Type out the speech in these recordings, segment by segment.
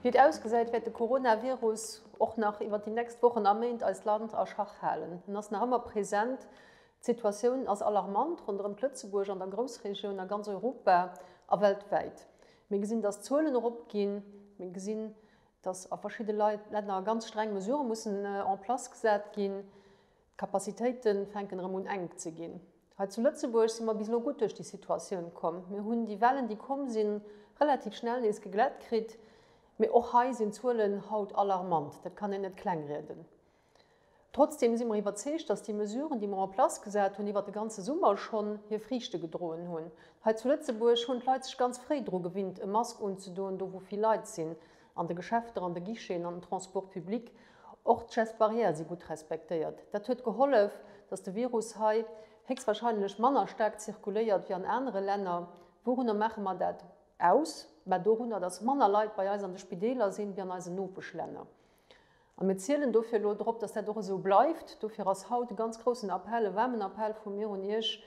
Wéi et ausgesäit, wäert de Coronavirus och nach iwwer déi nächst Wochen a Méint eist Land a Schach halen. En ass nach ëmmer present, d'Situatioun ass alarmant ronderëm d'Lëtzebuerg, an der Groussregioun, a ganz Europa a weltwäit. Mir gesinn, datt d'Zuelen eropginn. Mir gesinn, datt a verschidde Länner ganz streng Mesurë mussen en place gesat ginn, D'Kapazitéite fänken erëm un enk ze ginn. Hei zu Lëtzebuerg si mer bis elo gutt duerch déi Situatioun komm. Mir hunn déi Wellen, déi komm sinn, relativ schnell nees geglätt kritt. Mee och hei sinn d'Zuelen haut alarmant, dat kann een net klengrieden. Trotzdeem si mer iwwerzeegt, datt déi Mesuren, déi mer en place gesat hunn iwwert de ganze Summer schonn, hir Friichte gedroen hunn. Hei zu Lëtzebuerg hunn d'Leit sech ganz fréi dru gewinnt, e Mask unzedoen, do wou vill Leit sinn. An de Geschäfter, an de Guicheten, an den Transports publics, och d'Gestes barrières si gutt respektéiert. Dat huet gehollef, datt de Virus hei héchstwahrscheinlech manner staark zirkuléiert wéi an anere Länner. Wourunner maache mer dat aus? Mä dorunner, datt manner Leit bei eis an de Spideeler sinn wéi an eisen Nopeschlänner. A mir zielen dofir elo drop, dass dat och esou bleift. Dofir ass haut e ganz groussen Appell, e waarmen Appell vu mir un Iech,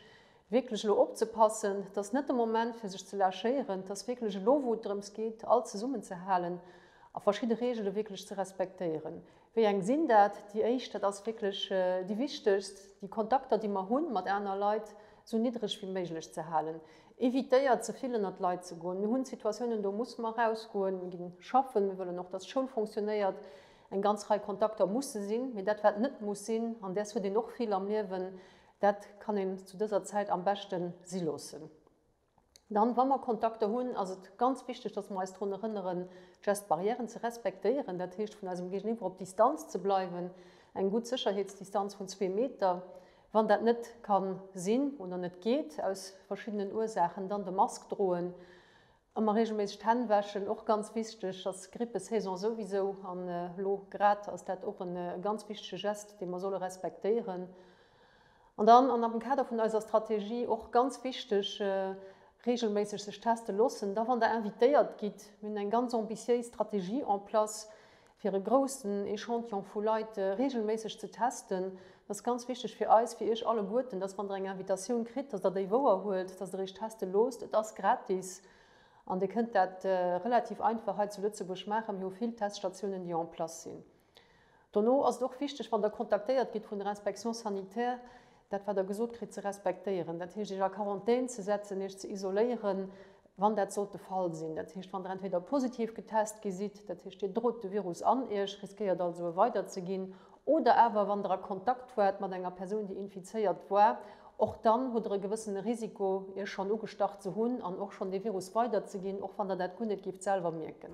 wierklech elo opzepassen. Et ass net de Moment, fir sech ze lachéieren. Et ass wierklech elo, wou et drëms geet, all zesummenzehalen a verschidde Reegele wierklech ze respektéieren. Wéi eng sinn dat? Déi éischt, dat ass wierklech déi wichtegst, déi Kontakter, déi mer hu mat aner Leit, esou niddreg wéi méiglech ze halen. Evitéiert ze vill ënnert d'Leit ze goen. Mir hunn Situatiounen, do musse mer erausgoen. Mir ginn schaffen. Mir wëllen och, dass d'Schoul fonctionnéiert. Eng ganz Rei Kontakter musse sinn. Mee dat, wat net muss sinn, an däers huet een och vill am Liewen, dat kann een zu dëser Zäit am beschte si loossen. Dann, wa mer Kontakter hunn, ass et ganz wichteg, dass mer eis drun erënneren, d'Gestes barrièren ze respektéieren. Dat heescht, vun eisem Géigeniwwer op Distanz ze bleiwen, eng gutt Sécherheetsdistanz vun zwee Meter. Wann dat net ka sinn oder net geet aus verschiddenen Ursaachen, dann de Mask droen. Ëmmer reegelméisseg d'Hänn wäschen, och ganz wichteg, ass Grippesaison souwisou an elo grad ass dat och e ganz wichtege Geste, dee mer solle respektéieren. An dann, an am Kader vun eiser Strategie och ganz wichteg, reegelméisseg sech teste loossen. Da wann der invitéiert gitt, mir hunn eng ganz ambitiéis Strategie en place, fir e groussen Echantillon vu Leit reegelméisseg ze testen. Dat ass ganz wichteg fir eis, fir Iech alleguerten, dass, wann Der eng Invitatioun kritt, dass Der déi wouer huelt, dass Der Iech teste loosst. Et ass gratis an Dir kënnt dat relativ einfach hei zu Lëtzebuerg maachen. Mir hu vill Teststatiounen, déi en place sinn. Dono ass et och wichteg, wann Der kontaktéiert gitt vun der Inspection sanitaire, dat wat Der gesot kritt, ze respektéieren, dat heescht Iech a Quarantän ze setzen, Iech ze isoléieren, wann dat sollt de Fall sinn, dat heescht wann Der entweder positiv getest gi sidd, dat heescht Dir drot de Virus an Iech, riskéiert also e weider ze ginn, oder awer wann Der a Kontakt waart mat enger Persoun déi infizéiert war, och dann hutt Der e gewëssene Risiko Iech schonn ugestach ze hunn an och schonn dee Virus weider ze ginn, och wann Der dat guer net gift selwer mierken.